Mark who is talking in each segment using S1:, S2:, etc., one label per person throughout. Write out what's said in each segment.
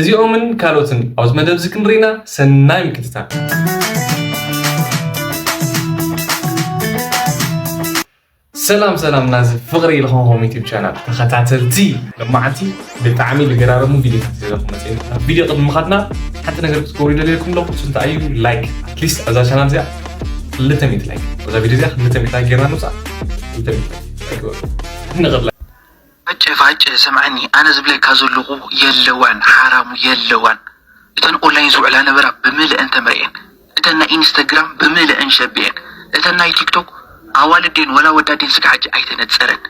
S1: እዚኦምን
S2: ካልኦትን ኣብዚ መደብ እዚ ክንርኢ ኢና። ሰናይ ምክትታል። ሰላም ሰላም ናዚ ፍቕሪ ዝኾንኩም ዩቲብ ቻናል ተኸታተልቲ ለማዓንቲ ብጣዕሚ ልገራረሙ ቪዲዮታት ዘለኹም መፅኤ ናብ ቪዲዮ ቅድሚ ምኻድና ሓንቲ ነገር ክትገብሩ ይደልየልኩም ኣለኹ እሱ እንታይ እዩ ላይክ ኣትሊስት ኣብዛ ቻናል እዚኣ ክልተ ሚእቲ ላይክ ኣብዛ ቪዲዮ እዚኣ ክልተ ሚእቲ ላይክ ጌርና ንውፃእ ክልተ ሚእቲ ላይክ ንቕድላ ፋጨ
S3: ፋጨ ስምዐኒ ኣነ ዝብለካ ዘለኹ የለዋን ሓራሙ የለዋን እተን ኦንላይን ዝውዕላ ነበራ ብምልእን ተምርኤን እተን ናይ ኢንስተግራም ብምልእን ሸቢኤን እተን ናይ ቲክቶክ ኣዋልድ ድየን ወላ ኣወዳት ድየን ስጋዕ ሕጂ ኣይተነጸረን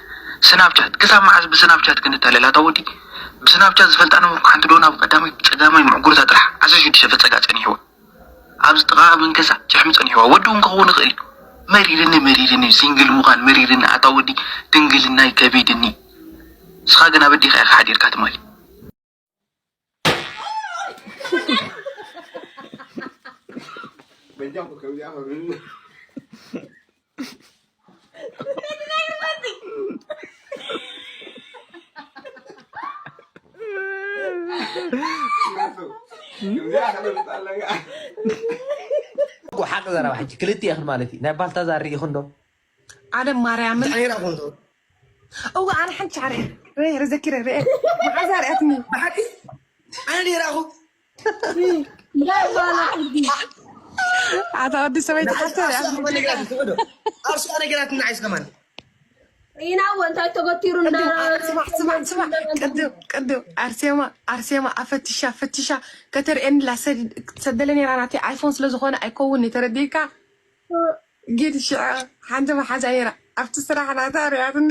S3: ስናፕቻት ክሳብ መዓዝ ብስናፕቻት ክንታለል ኣታ ወዲ ብስናፕቻት ዝፈልጣ ነበርኩ ሓንቲ ዶና ብቀዳማይ ብጸጋማይ ምዕጉርታ ጥራሕ ዓሰርተ ሽዱሽተ ፈጸጋ ጸኒሕዋ ኣብዚ ጥቃ ኣበን ገዛ ጭሕሚ ጸኒሕዋ ወዲ ውን ክከውን ይክእል እዩ መሪርኒ መሪርኒ እዩ ሲንግል ምኳን መሪርኒ ኣታ ወዲ ድንግልናይ ከቢድኒ ንስካ ግን ኣብ ኣዴካ ኢካ ሓዲርካ ትማሊ
S4: ሓቂ ዘረባ ሕጂ ክልቲኤኽን ማለት እዩ ናይ ባልታዛር ርኢኹን ዶ ኣነ
S5: ማርያም እወ ኣነ ሓንቲ ሻዕረ ርኤ ዘኪረ ርኤ መዓዛ ርኣትኒ ብሓቂ
S1: ኣነ ርኣኹ
S6: ናይ ዋላ
S5: ሕጊ ኣታ ወዲ ሰበይቲ ንሓንቲ ሓተር ዓርሱ ኣኽበ ነገራት እንትውዕዶ
S1: ዓርሱ ነገራት ንዓይስ ከማን ኢና
S6: እወ እንታይ ተገቲሩ እንዳ ስማዕ
S5: ስማዕ ስማዕ ቅድም ቅድም ኣርሴማ ኣርሴማ ኣፈትሻ ፈትሻ ከተርእየንላ ሰድ- ሰደለ ነራ ናተይ ኣይፎን ስለዝኾነ ኣይከውን እዩ ተረዲእካ ጊድ ሽዐ ሓንቲ መሓዛ ነራ ኣብቲ ስራሕ ናታ ሪኣትኒ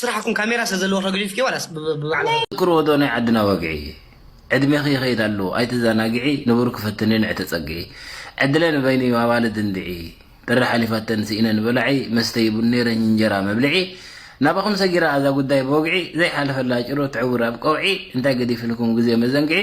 S1: ስራሕኩም ካሜራ ስለዘለዎ ከግዲፍኪ ዋላስ
S4: ብባዕላ ትዝክርዎ ዶ ናይ ዓድና ወግዒ ዕድሜኺ ይኸይድ ኣሎ ኣይትዘናግዒ ንቡርኪ ፈትኒ ንዒ ተፀግዒ ዕድለ ንበይኑ እዩ ኣዋልድ እንድዒ ጥሪ ሓሊፋተን ስኢነን በላዒ መስተዪ ቡን ነይረኝ እንጀራ መብልዒ ናባኹም ሰጊራ እዛ ጉዳይ ብወግዒ ዘይሓለፈላ ጭሮ ትዕውር ኣብ ቀውዒ እንታይ ገዲፍልኩም ግዜ መዘንግዒ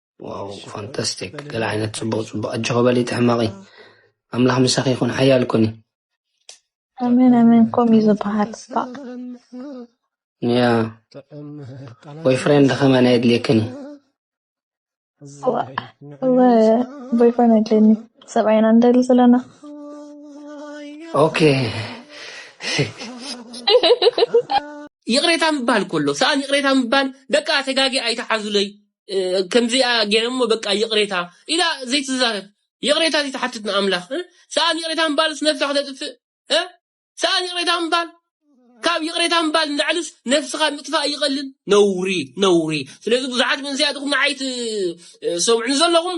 S7: ዋው ፋንታስቲክ ገለ ዓይነት ጽቡቕ ጽቡቕ ኣጆኺ በሊ ትሕመቒ ኣምላኽ ምሳኺ ይኹን ሓያል ኩኒ ኣሜን
S6: ኣሜን ከምኡ እዩ ዝበሃል
S7: ያ ቦይ ፍሬንድ ከመን ኣየድልየክን
S8: ቦይ ፍሬንድ ኣድልየኒ ሰብኣይና ንደሊ ዘለና ኦኬ
S9: ይቕሬታ ምባል ከሎ ሰኣን ይቕሬታ ምባል ደቂ ኣተጋጊ ኣይተሓዙለይ ከምዚኣ ገይረ እሞ በቃ ይቕሬታ ኢላ ዘይትዛረብ ይቕሬታ ዘይትሓትት ንኣምላኽ እ? ሰኣን ይቕሬታ ምባልስ ነብሳ ክተጥፍእ እ? ሰኣን ይቕሬታ ምባል ካብ ይቕሬታ ምባል ንላዕልስ ነብስኻ ምጥፋእ ይቐልል ነውሪ ነውሪ ስለዚ ብዙሓት መንእሰያት ኢኹም ንዓይ ትሰምዑኒ ዘለኹም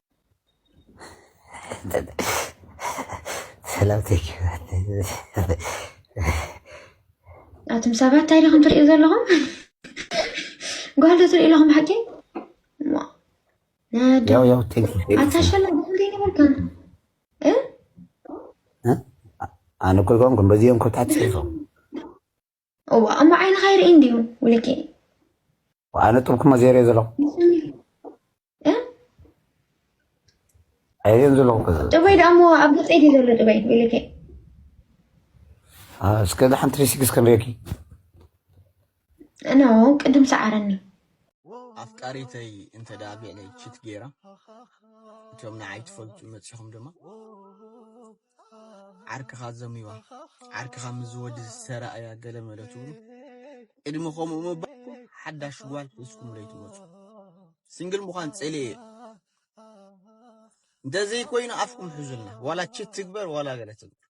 S4: ኣቱም ሰባት
S10: እንታይ ዲኹም ትሪኡ ዘለኹም? ጓል ዶ ትሪኡ ኣለኹም ብሓቂ?
S4: ኣታሸላ
S10: ዘይነበርካ
S4: ኣነ እኮ ይኮንኩም በዚኦም ኮታት ፅሒፎም
S10: እዋ እሞ ዓይንኻ ይርኢ እንድዩ ውልቂ ኣነ
S4: ጥብኩሞ ዘይርኦ ዘለኹ ኣይርኦን ዘለኹ ጥበይ ደኣ እሞ ኣብ ገፀይ
S10: ድዩ ዘሎ ጥበይ ውልቂ
S4: እስከ ሓንቲ ሪሲክስ ክንሪኦኪ
S10: እኖ ቅድም ሰዓረኒ
S11: ኣፍቃሪተይ እንተ ደኣ ብዕለይ ችት ገይራ እቶም ንዓይ ትፈልጡ መፂኹም ድማ ዓርክኻ ዘሚዋ ዓርክኻ ምስ ዝወዲ ዝተራእያ ገለ መለ ትብሉ ቅድሚ ከምኡ ምባልኩም ሓዳሽ ጓል ሒዝኩም ለይትመፁ ስንግል ምዃን ጸልየ እዩ እንደዘይ ኮይኑ ኣፍኩም ሕዙልና ዋላ ችት ትግበር ዋላ ገለ ትግበር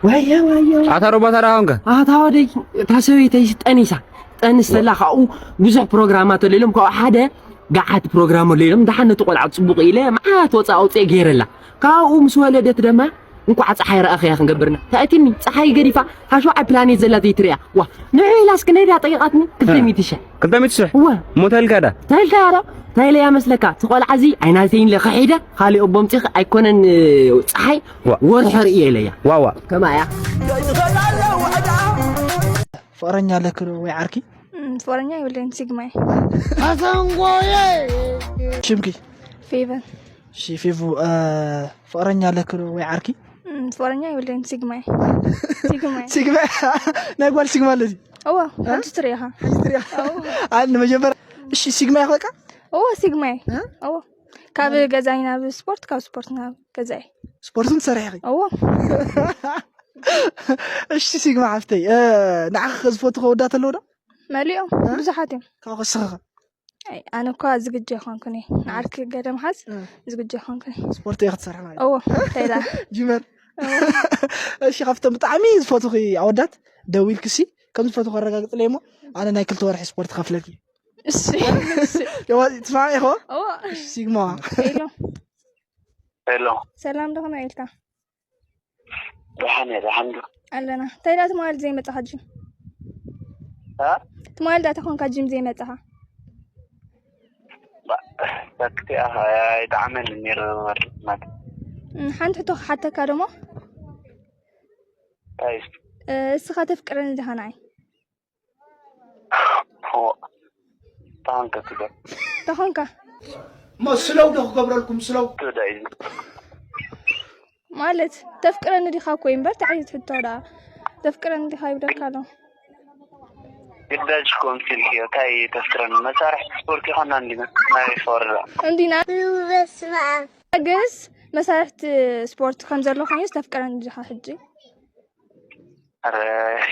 S11: ወየ ወየ
S12: ኣታ ሮባት ኣራ ሆንከ ኣታ ወደይ እታ ሰበይተይ ጠኒሳ ጠንስ ዘላ ካብኡ ብዙሕ ፕሮግራማት ኣሎ ኢሎም ካብኡ ሓደ ገዓት ፕሮግራም ኣሎ ኢሎም ደሓን ነቲ ቆልዓ ፅቡቕ ኢለ መዓት ወፃ ኣውፅኤ ገይረላ ካብኡ ምስ ወለደት ደማ እንኳዕ ፀሓይ ረኣኽያ ክንገብርና ታእትኒ ፀሓይ ገዲፋ ካብ ሸውዓይ ፕላኔት ዘላ ዘይትሪያ ዋ ንዑ ኢላስ ክንደይዳ ጠይቃትኒ ክልተ ሚእቲ ሽሕ ክልተ ሚእቲ ሽሕ ዋ እሞ ተልካዳ
S13: ተልካዳ ታይለያ
S12: መስለካ ትቆልዓ እዚ ኣይናተይን ኢለ ከሒደ ካልእ ኣቦ ምፅኺ ኣይኮነን ፀሓይ ወርሖ ርእየ ኢለያ ዋዋ ከማ እያ
S14: ፍቅረኛ ኣለክ ዶ ወይ ዓርኪ ፍቅረኛ
S8: ይብለኝ ሲግማይ ኣተንጎየ
S14: ሽምኪ ፌቨን
S8: እሺ ፌቡ
S14: ፍቅረኛ ኣለኪ ዶ ወይ ዓርኪ? ፍቅረኛ
S8: የብለይን ሲግማ እየ ሲግማ እየ
S14: ሲግማ ናይ ጓል ሲግማ ኣለዚ እወ ሕጂ
S8: ትሪኢኻ
S14: ኣን መጀመርያ እሺ ሲግማ እየ በቃ እወ ሲግማ እየ
S8: እወ ካብ ገዛይ ናብ ስፖርት ካብ ስፖርት ናብ ገዛይ ስፖርትን ትሰርሒ
S14: ኢኺ እወ እሺ ሲግማ ሓፍተይ ንዓኺ ዝፈቱ ከወዳት ኣለዉ ዶ መሊኦም
S8: ብዙሓት እዮም ካብኡ ክስኽኸ
S14: ኣይ፣ ኣነ
S8: እኳ ዝግጁ ኣይኮንኩን እየ ንዓርኪ ገለ ምሓዝ እ። ዝግጁ ኣይኮንኩን እየ ስፖርት እየ ክትሰርሒ ማለት
S14: እዎ እንታይ ደኣ
S8: ጂመር
S14: እሺ ካብቶም ብጣዕሚ ዝፈትኺ ኣወዳት ደዊልኪ ሲ ከም ዝፈትኺ ኣረጋግፅለይ እሞ ኣነ ናይ ክልተ ወርሒ ስፖርት ከፍለኪ እሺ እሺ የዋ- ትስማዕሚ ኢኹ እዎ ሲግማ ሄሎ
S15: ሄሎ ሰላም ዶ ኸመይ ኢልካ
S8: ደሓን
S15: እየ ደሓን ዶ ኣለና እንታይ ዳ
S8: ትማል ዘይመጣኻ ጂም እ? ትማል ዳታ ኮንካ ጂም ዘይመጣኻ ባ-
S15: ሰክቲ ኣኸ ይጣዕመኒ ነይሩ ወርድ ማለት እም፣ ሓንቲ
S8: ሕቶ ክሓተካ ደሞ እንታይ
S15: እዩ? እ፣ እስኻ ተፍቅረኒ ዲኻ
S8: ንዓይ
S15: ተኾንካ
S8: እሞ
S14: ስለው ዶ ክገብረልኩም ስለው
S8: ማለት ተፍቅረኒ ዲኻ እኮ እዩ እምበር ተዓይት ሕቶ ደኣ ተፍቅረኒ ዲኻ ይብለካ ኣሎ ግዳጅ
S15: ኮም ሲልክ እዮ እንታይ ተፍቅረኒ መሳርሒ ስፖርት ይኾና እንዲና ናይ ፈወርዳ
S8: እንዲና ግስ መሳርሕቲ ስፖርት ከም ዘሎ ኮይኑ ዝተፍቅረኒ ዲኻ ሕጂ ኣረ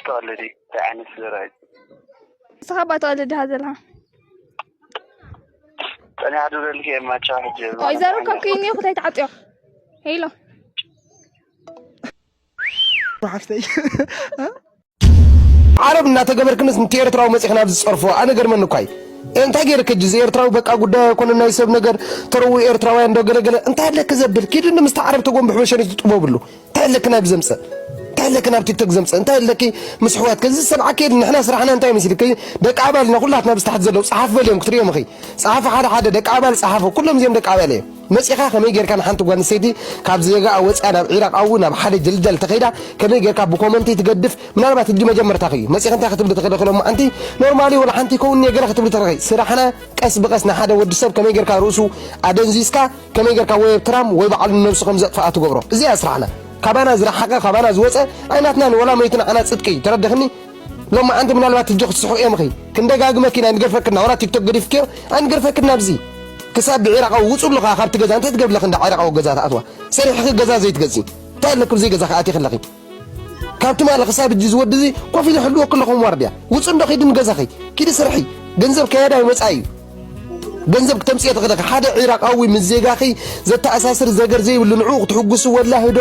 S15: ተቀልዲ እንታይ ዓይነት ዘረባ እዩ ንስኻ
S8: እባ ተቀልድ ድኻ ዘለኻ
S15: ጸኒሓ ድብለልኪ እየ ማቻ ሕጂ ቆይ ዘሩ ከም ክይኒ
S8: ኩታይ ተዓጥዮ ሄሎ
S13: ሓፍተይ ዓረብ እናተገበርክንስ ንቲ ኤርትራዊ መፂኽን ኣብዚ ዝፀርፎ ኣነ ገርመኒ እኳ እዩ እንታይ ገይርክ እጂ እዚ ኤርትራዊ በቃ ጉዳይ ኣይኮነ ናይ ሰብ ነገር ተረው ኤርትራውያን ዶ ገለገለ እንታይ ኣለክ ዘብል ኪድኒ ምስቲ ዓረብ ተጎንብሕ በሸኒት ትጥበብሉ እንታይ ኣለኪ ናብዚ ዘምፅእ እንታይ ኣለኪ ናብ ቲክቶክ ዘምፅእ እንታይ ኣለኪ ምስ ኣሕዋትኪ እዚ ዝሰምዓኪ የለን ንሕና ስራሕና እንታይ መሲልኪ ደቂ ኣባል ኢና ኩላትና ኣብዚ ታሕቲ ዘለዉ ፀሓፍ በልዮም ክትሪኦም ኢኺ ፀሓፊ ሓደ ሓደ ደቂ ኣባል ፀሓፉ ኩሎም እዚኦም ደቂ ኣባል እዮም መፂኻ ከመይ ጌርካ ንሓንቲ ጓል ኣንስተይቲ ካብ ዜጋኣ ወፂኣ ናብ ዒራቕ ኣው ናብ ሓደ ጀልጃል ተኸይዳ ከመይ ጌርካ ብኮመንቲ ትገድፍ ምናልባት ሕጂ መጀመርታኺ እዩ መፂኺ እንታይ ክትብሊ ትኽእሊ ክሎ መዓንቲ ኖርማሊ ወላ ሓንቲ ይከውን እኒኦ ገለ ክትብሊ ትኽእሊ ስራሕና ቀስ ብቐስ ንሓደ ወዲ ሰብ ከመይ ጌርካ ርእሱ ኣደንዚዝካ ከመይ ገርካ ወይ ብ ትራም ወይ ባዕሉ ንነብሱ ከም ዘጥፍኣ ትገብሮ እዚ እያ ስራሕና ካባና ዝረሓቀ ካባና ዝወጸ ኣይናትናን ወላ መይቱ ንዓና ጽድቂ እዩ ተረድኽኒ ሎማዓንቲ ምናልባት ህጂ ክትስሑ እዮም ኺ ክንደጋግመኪ ኢና ኣይንገርፈክን ናውራ ቲክቶክ ገዲፍክዮ ኣይንገርፈክን ናብዚ ክሳብ ብዒራቃዊ ውጹሉ ኸኣ ካብቲ ገዛ እንታይ ትገብሪ ኣለኺ እንዳ ዒራቃዊ ገዛ ትኣትዋ ሰሪሕኺ ገዛ ዘይትገዝኢ እንታይ ኣለኪ ብዘይ ገዛኺ ኣቲኺ ኣለኺ ካብ ትማሊ ክሳብ እጂ ዝወዲ እዚ ኮፍ ኢለ ሕልወ ክለኹም ዋርድያ ውፅ እንዶ ኪዲ ንገዛኺ ኪዲ ስርሒ ገንዘብ ከያዳይ ወፃኢ እዩ ገንዘብ ክተምፅኦ ትኽእለኺ ሓደ ዒራቃዊ ምስ ዜጋኺ ዘተኣሳስር ዘገር ዘይብሉ ንዕኡ ክትሕጉሱ ወላ ህዶ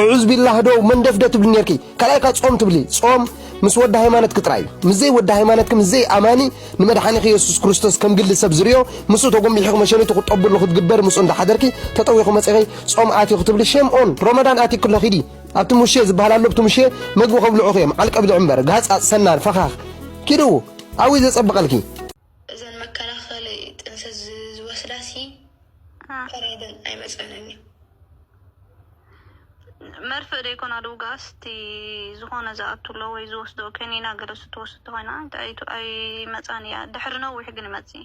S13: እዑዝ ቢላ ህዶ መንደፍደ ትብሊ ነርኪ ካልኣይ ካ ጾም ትብሊ ጾም ምስ ወዲ ሃይማኖትኪ ጥራይ እዩ ምስ ዘይ ወዲ ሃይማኖትኪ ምስ ዘይ ኣማኒ ንመድሓኒኺ የሱስ ክርስቶስ ከም ግሊ ሰብ ዝርዮ ምስኡ ተጎምቢሕኺ መሸኒቱ ክትጠብሉ ክትግበሪ ምስኡ እንዳሓደርኪ ተጠዊኹ መፂኺ ጾም ኣትዩ ክትብሊ ሸም ኦን ሮመዳን ኣትዩ ክሎ ኪዲ ኣብቲ ሙሼ ዝበሃል ኣሎ ብቲ ሙሼ መግቢ ከብልዑኺ እዮም ዓል ቀብድዕ እምበር ጋህጻጽ ሰናር ፈኻኽ ኪዱ ኣብይ ዘጸብቐልኪ። እዘን መከላኸሊ ጥንሲ
S16: ዝወስዳ ሲ ፈራደን ኣይመፀንን እዩ። መርፍእ ደይኮና ድውጋስ እቲ ዝኾነ ዝኣቱ ኣሎ ወይ ዝወስዶ ከኒና ገለ ስትወስድ ተኮይና ኣይመፃን እያ ድሕሪ ነዊሕ ግን ይመፅእ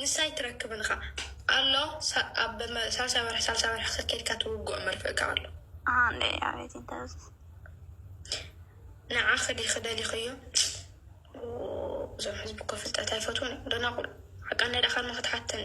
S16: ንሳ ኣይትረክብን እኻ ኣሎ ኣብ ሳልሳይ ወርሒ ሳልሳይ ወርሒ ከከድካ ትውግኦ መርፍእካ ኣሎ ኣንደይ ኣቤት ይደስ ንዓ ክዲ ክደሊኸዮ እዞም ሕዝቢ እኮ ፍልጠት ኣይፈትውን እዮም ደናቁር ሓቃ እንዳዳኻን መክትሓተኒ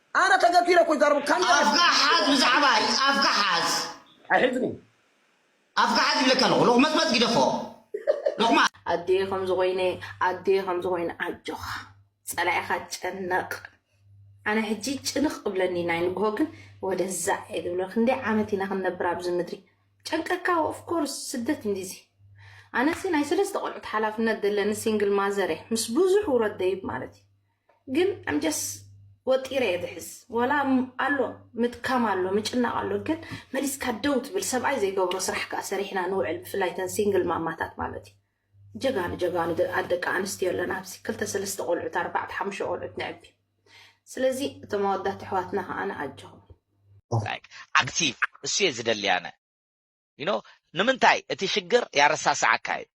S17: ኣነ
S1: ተገፊረ እኮ ይዛረቡ ካንዳ ሪኢኩም። ኣፍካ ሓዝ
S17: ብዛዕባይ ኣፍካ ሓዝ። ኣይሕዝን'የ። ኣፍካ ሓዝ ይብለካ ኣለኹ ሎቕመጽመጽ ግደፎ ሎቕማጽ። ኣዴ ከምዚ
S18: ኮይነ ኣዴ ከምዚ ኮይነ ኣጆካ ፀላኢካ ጨነቅ ኣነ ሕጂ ጭንቅ እብለኒ ናይ ንግሆ ግን ወደዛ እየ ዝብሎ ክንደይ ዓመት ኢና ክንነብር ኣብዚ ምድሪ ጨንቀካ ኦፍኮርስ ስደት እንዲዚ ኣነሲ ናይ ሰለስተ ቆልዑት ሓላፍነት ዘለኒ ሲንግል ማዘር እየ ምስ ብዙሕ ውረድ ደይብ ማለት እዩ ግን I'm just ወጢረ እየ ዝሕዝ ዋላ ኣሎ ምድካም ኣሎ ምጭናቕ ኣሎ ግን መሊስካ ደው ትብል ሰብኣይ ዘይገብሮ ስራሕ ከዓ ሰሪሕና ንውዕል ብፍላይ ተን ሲንግል ማማታት ማለት እዩ ጀጋኑ ጀጋኑ ደቂ ኣንስትዮ ኣለና ኣብዚ ክልተ ሰለስተ ቆልዑት ኣርባዕተ ሓሙሽተ ቆልዑት ንዕቢ ስለዚ እቶም ኣወዳት ኣሕዋትና ከዓ ንኣጆኹም
S19: ዓግቲ እሱ እየ ዝደሊ ኣነ ንምንታይ እቲ ሽግር ያረሳስዓካ እዩ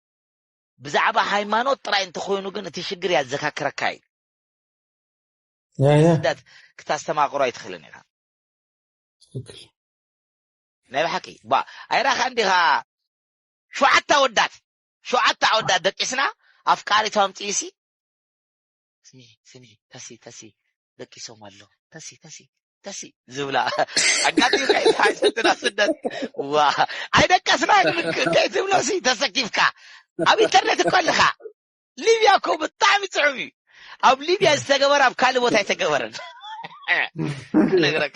S19: ብዛዕባ ሃይማኖት ጥራይ እንተኾይኑ ግን እቲ ሽግር ያዘካክረካ እዩ ናይ ስደት ክታስተማቅሮ ኣይትኽእልን ኢኻ ናይ ብሓቂ ባ ኣይራኻን ዲኻ ሸውዓተ ኣወዳት ሸውዓተ ኣወዳት ደቂስና ኣፍቃሪቶም ጥይሲ ስሚ ስሚ ተሲ ተሲ ደቂሶም ኣለዉ ተሲ ተሲ ተሲ ዝብላ ኣጋጢምካ እዩ ሓሸትና ስደት ዋ ኣይደቀስናን እንታይ ትብሎ ሲ ተሰኪፍካ ኣብ ኢንተርነት እኮ ኣለኻ ሊብያ እኮ ብጣዕሚ ፅዑም እዩ ኣብ ሊብያ ዝተገበረ ኣብ ካልእ ቦታ ኣይተገበረን ነግረካ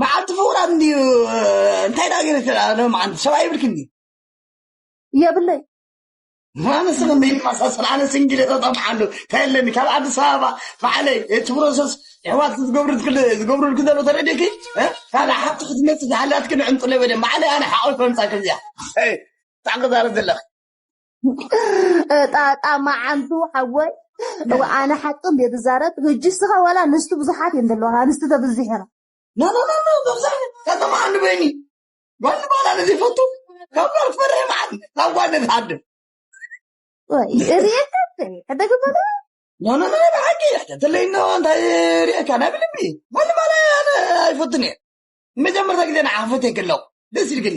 S10: መዓልቲ
S1: ፍቁራት እንድዩ እንታይ ዳኣ ገይረኪ ሎምዓንቲ ሰብኣይ ይብልክን ድዩ
S10: የብለይ
S1: ንስኺ መይመሳሰል ኣነ ስንጊለ ተጠምሓሉ እንታይ ኣለኒ ካብ ኣዲስ ኣበባ ባዕለይ እቲ ፕሮሰስ ኣሕዋት ዝገብሩልኪ ዘሎ ተረዲኪ ካብ ሓብቲ ክትመፅእ ዝሃላትኪ ንዕንጥለ በለ ባዕለይ ኣነ ሓቆይ ከምፃ ከምዚኣ ብጣዕሚ ክዛረብ ዘለኺ
S10: ጣጣ መዓንቱ ሓወይ እወ ኣነ ሓቂ እንደ ዝዛረብ ህጂ ስኻ ዋላ ኣንስቲ ብዙሓት እየን ዘለዋ ኣንስቲ ተብዚሐን ናናናና
S1: መብዛሕት ከተማ ዓንዲ በይኒ ጓል ባላ ንዘይፈቱ ካብ ጓል ክፈርሕ መዓት ካብ ጓል ንዝሓድር ወይ ርእየካ
S10: ሕደግበለ ናናና
S1: ብሓቂ ሕተትለይና እንታይ ርእየካ ናይ ብልቢ ጓል ባላ ኣነ ኣይፈቱን እየ መጀመርታ ግዜ ንዓኽፈት የክለኹ ደስ ኢልግኒ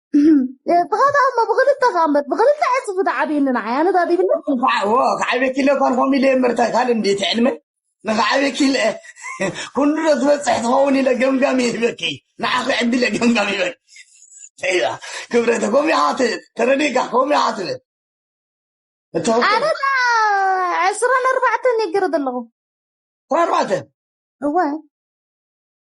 S10: ብኸታ እሞ ብክልተ ካመት ብክልተ ዕፅፊ ተዓብየኒ ንዓይ ኣነ ዳዲ ብለ ክዓብየኪ
S1: ኢለ እኳን ከምኡ ኢለ ምርታ ካልእ እንዲ እቲ ዕልመ ንክዓብየኪ ኢለ ኩሉ ዶ ዝበፅሕ ትኸውን ኢለ ገምጋም ይህበኪ ንዓኺ ዕዲ ኢለ ገምጋም ይበል እያ ክብረተ ከምኡ ኢኻ ተረዲእካ ከምኡ ኢኻ ትብል
S10: ኣነ ዕስራን ኣርባዕተን ይገረድ ኣለኹ ዕስራን ኣርባዕተን
S1: እወ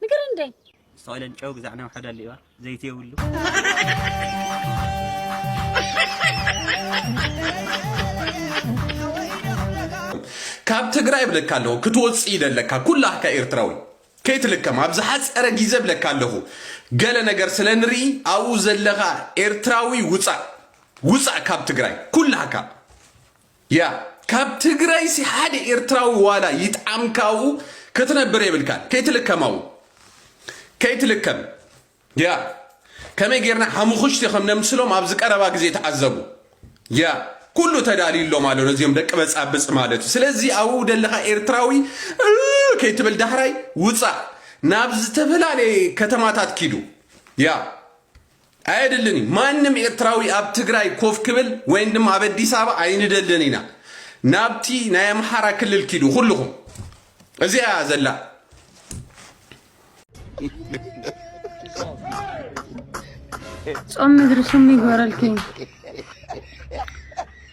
S6: ንገረን እንዴ። ዝተቐለን ጨው ግዛዕ
S11: ነውሐ ደልዩዋ ዘይቲ የብሉ።
S20: ካብ ትግራይ ብለካ ኣለኹ ክትወፅእ ይደለካ ኩላካ ኤርትራዊ ከይትልከም ኣብ ዝሓፀረ ግዜ ብለካ ኣለኹ ገለ ነገር ስለ ንርኢ ኣብኡ ዘለኻ ኤርትራዊ ውፃእ ውፃእ ካብ ትግራይ ኩላካ ያእ ካብ ትግረይሲ ሓደ ኤርትራዊ ዋላ ይጥዓምካ ኣብኡ ክትነብር የብልካን ከይትልከም ኣብኡ ከይትልከም ያእ ከመይ ጌርና ሓሙኹሽቲ ከም ነምስሎም ኣብዚ ቀረባ ግዜ ተዓዘቡ ያእ ኩሉ ተዳልዩሎም ኣሎ ነዚኦም ደቂ በጻብጽ ማለት እዩ ስለዚ ኣብኡ ደለኻ ኤርትራዊ ከይትብል ዳሕራይ ውጻእ ናብ ዝተፈላለየ ከተማታት ኪዱ ያእ ኣየድልን እዩ ማንም ኤርትራዊ ኣብ ትግራይ ኮፍ ክብል ወይን ድማ ኣብ ኣዲስ ኣበባ ኣይንደልን ኢና ናብቲ ናይ ኣምሓራ ክልል ኪዱ ኩልኹም እዚኣ እያ ዘላ
S21: ጾም ምድሪ ስሙ ይግበረልኪ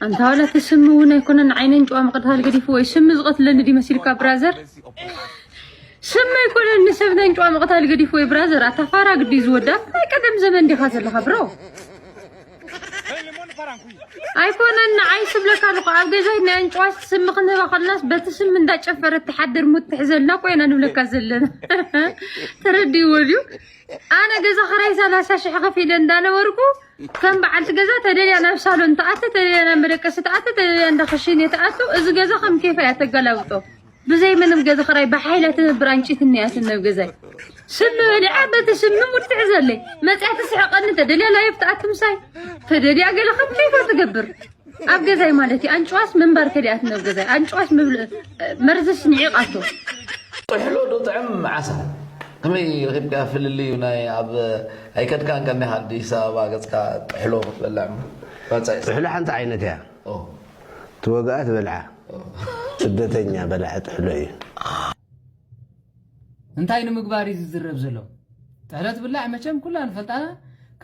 S21: ኣንታ ዋላ እቲ ስሚ እውን ኣይኮነን ንዓይ ነንጭዋ ምቕታል ገዲፉ ወይ ስሚ ዝቐትለኒ ድዩ መሲልካ ብራዘር ስሚ ኣይኮነን ንሰብ ነንጭዋ ምቕታል ገዲፉ ወይ ብራዘር ኣታ ፋራ ግዲ ዝወዳ ናይ ቀደም ዘመን ዲኻ ዘለኻ ብሮ ኣይኮነን ንዓይ ስብለካ ኣለኹ ኣብ ገዛይ ናይ ኣንጭዋስ ስሚ ክንህባ ከለናስ በቲ ስሚ እንዳጨፈረት ትሓድር ሙት ትሕዘልና ኮይና ንብለካ ዘለና ተረዲእዎ ድዩ ኣነ ገዛ ክራይ ሰላሳ ሽሕ ከፊለ እንዳነበርኩ ከም በዓልቲ ገዛ ተደልያ ናብ ሳሎን ትኣቲ ተደልያ ናብ መደቀሲ ትኣቲ ተደልያ እንዳ ክሽኔ ትኣቱ እዚ ገዛ ከም ኬፋ እያ ተገላብጦ ብዘይ ምንም ገዛ ክራይ ብሓይላ ትነብር ኣንጭት እንያትን ናብ ገዛይ ስሚ በሊዓ በቲ ስሚ ሙርትዕ ዘለይ መፅያ ትስሕቀኒ ተደልያ ላይፍ ትኣቲ ምሳይ ተደልያ ገለ ከም ኬፋ ትገብር ኣብ ገዛይ ማለት እዩ ኣንጭዋስ ምንባር ከዲኣት ናብ ገዛይ ኣንጭዋስ መርዝስ ንዒቓቶ ጥሕሎ
S22: ዶ ጥዕም ዓሳ ከመይ ረኺብካ ፍልልዩ ናይ ኣብ ኣይከድካን ከኒኻ ኣዲስ ኣበባ ገጽካ ጥሕሎ ክትበልዕ ባጻይ ጥሕሎ
S23: ሓንቲ ዓይነት እያ ትወግኣ ትበልዓ ስደተኛ በላዒ ጥሕሎ እዩ
S24: እንታይ ንምግባር እዩ ዝዝረብ ዘሎ ጥሕሎ ትብላዕ መቸም ኩላ ንፈልጣና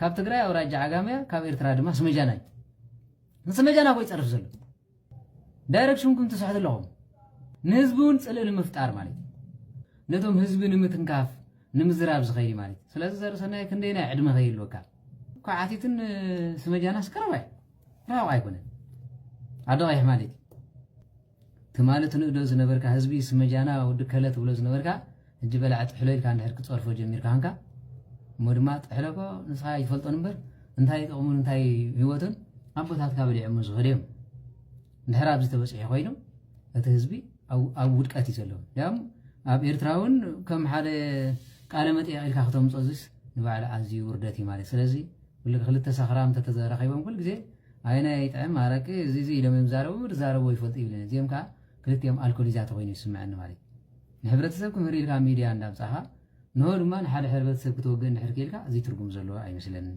S24: ካብ ትግራይ ኣውራጃ ዓጋመያ ካብ ኤርትራ ድማ ስመጃናይ ንስመጃ ናብኡ ይፀርፍ ዘሎ ዳይረክሽንኩም ትስሕቱ ኣለኹም ንህዝቢ እውን ፅልኢ ንምፍጣር ማለት እዩ ነቶም ህዝቢ ንምትንካፍ ንምዝራብ ዝኸይድ ማለት እዩ ስለዚ ዘርእሰናይ ክንደይ ናይ ዕድመ ከይህልወካ እኳ ዓቲትን ስመጃናስ ቀረባ እዩ ራቕ ኣይኮነን ኣደ ቀይሕ ማለት እዩ ትማሊ ትንእዶ ዝነበርካ ህዝቢ ስመጃና ወዲ ከለ ትብሎ ዝነበርካ ሕጂ በላዕ ጥሕሎ ኢልካ እንድሕር ክጸርፎ ጀሚርካ ሃንካ እሞ ድማ ጥሕሎኮ ንስኻ ይፈልጦን እምበር እንታይ ጥቕሙን እንታይ ህይወቱን ኣቦታትካ በሊዖሞ ዝኸዱ እዮም እንድሕር ኣብዚ ተበፂሑ ኮይኑ እቲ ህዝቢ ኣብ ውድቀት እዩ ዘሎ ያም ኣብ ኤርትራ እውን ከም ሓደ ቃለ መጠየቕ ኢልካ ክተምፆ እዚስ ንባዕሉ ኣዝዩ ውርደት እዩ ማለት ስለዚ ክልተ ሰኽራም ተተዘራኺቦም ኩል ግዜ ኣየናይ ይጥዕም ኣረቂ እዚ እዚ ኢሎም እዮም ዝዛረቡ እምበር ዝዛረብዎ ይፈልጡ ይብለን እዚኦም ከኣ ክልቲኦም ኣልኮሊዛት ኮይኑ እዩ ዝስምዐኒ ማለት እዩ ንሕብረተሰብ ክምህር ኢልካ ሚድያ እንዳምጻኻ ንሆ ድማ ንሓደ ሕብረተሰብ ክትወግእ እንድሕር ክኢልካ እዚ ትርጉም ዘለዎ ኣይመስለንን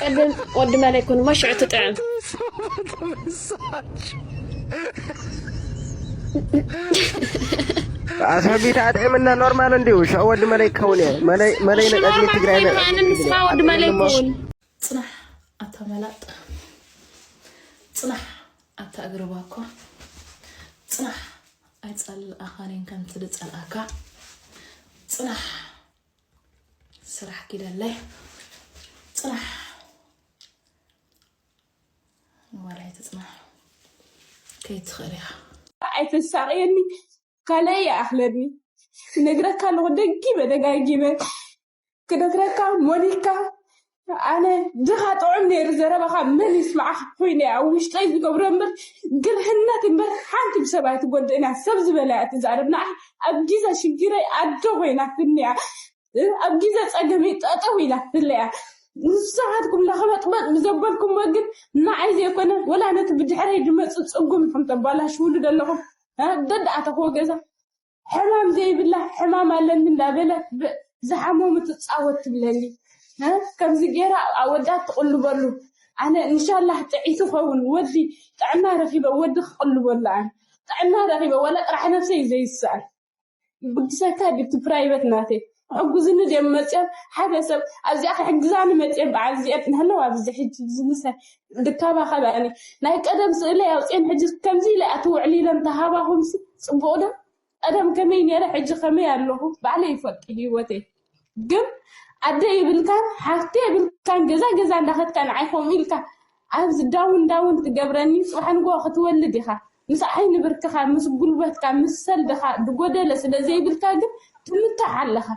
S23: ቅድም
S6: ወዲ መለይ ኩን እሞ ሽዑ ትጥዕም
S23: ኣስሕቢት ኣጥዒምና ኖርማል እንዲሁ ሽዑ ወዲ መለይ ክኸውን እየ መለይ ንቀድሚ ትግራይ ንስማ ወዲ
S6: መለይ ክውን ፅናሕ ኣብታ መላጥ ፅናሕ ኣብታ እግሪ ባኮ ፅናሕ ኣይፀልኣኻኔን ከምቲ ድፀልኣካ ፅናሕ ስራሕ ኪደለይ ፅናሕ ንዋላይ ትፅናሕ ከይትኽእል ኢኻ ኣይተሳቅየኒ ካልእ ይኣኽለኒ ክነግረካ ኣለኹ ደጊመ ደጋጊመ ክነግረካ ሞኒካ ኣነ ድኻ ጥዑም ነይሩ ዘረባኻ መን ይስማዕኻ ኮይነ ኣብ ውሽጠይ ዝገብሮ እምበር ግርህነት እምበር ሓንቲ ብሰብ ኣይትጎድእን እያ ሰብ ዝበላ እያ ትዛረብ ንዓይ ኣብ ጊዘ ሽግረይ ኣዶ ኮይናትኒ እያ ኣብ ጊዘ ፀገመይ ጠጠው ኢላትለ እያ ንስኻትኩም ለኽበጥበጥ ብዘበልኩሞ ግን ንዓይ ዘይኮነ ወላ ነቲ ብድሕረይ ድመፅእ ፅጉም ኢኹም ተባላሽውሉ ዘለኹም ደዳኣተኽዎ ገዛ ሕማም ዘይብላ ሕማም ኣለኒ እንዳበለት ብዝሓመሙ ትፃወት ትብለኒ ከምዚ ገይራ ኣወዳት ትቕልበሉ ኣነ እንሻላህ ጥዒት ኸውን ወዲ ጥዕና ረኺበ ወዲ ክቕልበሉ ኣነ ጥዕና ረኺበ ወላ ጥራሕ ነብሰይ ዘይስዕር ብግሰካ ድቲ ፕራይበት ናተይ ሕጉዝኒ ድም መፅኦም ሓደ ሰብ ኣብዚኣ ክሕግዛኒ መፅኦም በዓል እዚኣን እናሃለዋ ኣብዚ ሕጂ ዝምሰ ድካባኸበኣኒ ናይ ቀደም ስእለይ ኣውፅኤን ሕጂ ከምዚ ኢለ ኣቲ ውዕሊ ኢለ እንተሃባኹምሲ ፅቡቕ ዶ ቀደም ከመይ ነይረ ሕጂ ከመይ ኣለኹ ባዕለይ ይፈልጥ ህይወተይ ግን ኣደ ይብልካን ሓፍቲ የብልካን ገዛ ገዛ እንዳኸድካ ንዓይ ከምኡ ኢልካ ኣብዚ ዳውን ዳውን ትገብረኒ ጽባሕ ንግሆ ክትወልድ ኢኻ ምስ ዓይኒ ብርክኻ ምስ ጉልበትካ ምስ ሰልድኻ ድጎደለ ስለ ዘይብልካ ግን ትምታሕ ኣለኻ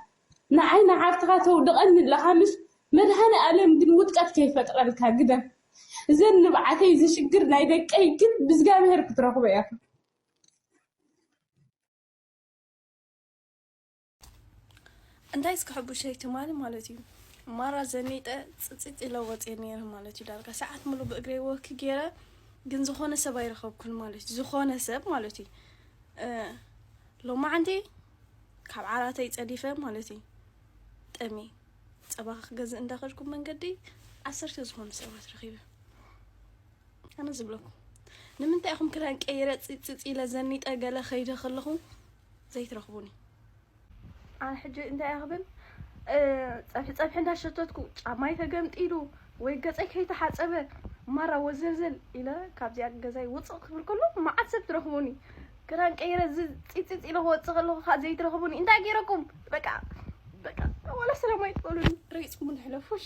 S6: ንዓይ ንዓርትኻ ተውድቐኒ ኣለኻ ምስ መድሃኒ ኣለም ግን ውድቀት ከይፈጥረልካ ግደፍ እዘን ንብዓተይ ዝሽግር ናይ ደቀይ ግን ብዝጋብሄር ክትረኽቦ ኢኻ
S8: እንታይ እስከ ሕቡሸይ ትማሊ ማለት እዩ
S6: ማራ ዘኒጠ ፅፅጥ ኢለ ወፅየ ነይረ ማለት እዩ ዳርጋ ሰዓት ሙሉ ብእግረ ወክ ገይረ ግን ዝኾነ ሰብ ኣይረኸብኩን ማለት እዩ ዝኾነ ሰብ ማለት እዩ ሎማዓንቲ ካብ ዓራተይ ፀዲፈ ማለት እዩ ጠሚ ፀባ ክገዝእ እንዳኸድኩ መንገዲ ዓሰርተ ዝኾኑ ሰባት ረኺበ ኣነ ዝብለኩም ንምንታይ ኢኹም ክዳን ቀይረ ፅፅፅ ኢለ ዘኒጠ ገለ ከይደ ከለኹ ዘይትረኽቡኒ። ኣነ ሕጂ እንታይ እየ ክብል ፀብሒ ፀብሒ እንዳሸተትኩ ጫማይ ተገምጢሉ ወይ ገፀይ ከይተሓፀበ ማራ ወዘልዘል ኢለ ካብዚኣ ገዛይ ውፅእ ክብል ከሎ መዓት ሰብ ትረኽቡኒ ክዳን ቀይረ እዚ ፂፅፅ ኢለ ክወፅእ ከለኹ ከዓ ዘይትረኽቡኒ እንታይ ገይረኩም በቃ በቃ ዋላ ሰላም ኣይትበሉኒ ረጊፅኩም ንሕለፉሽ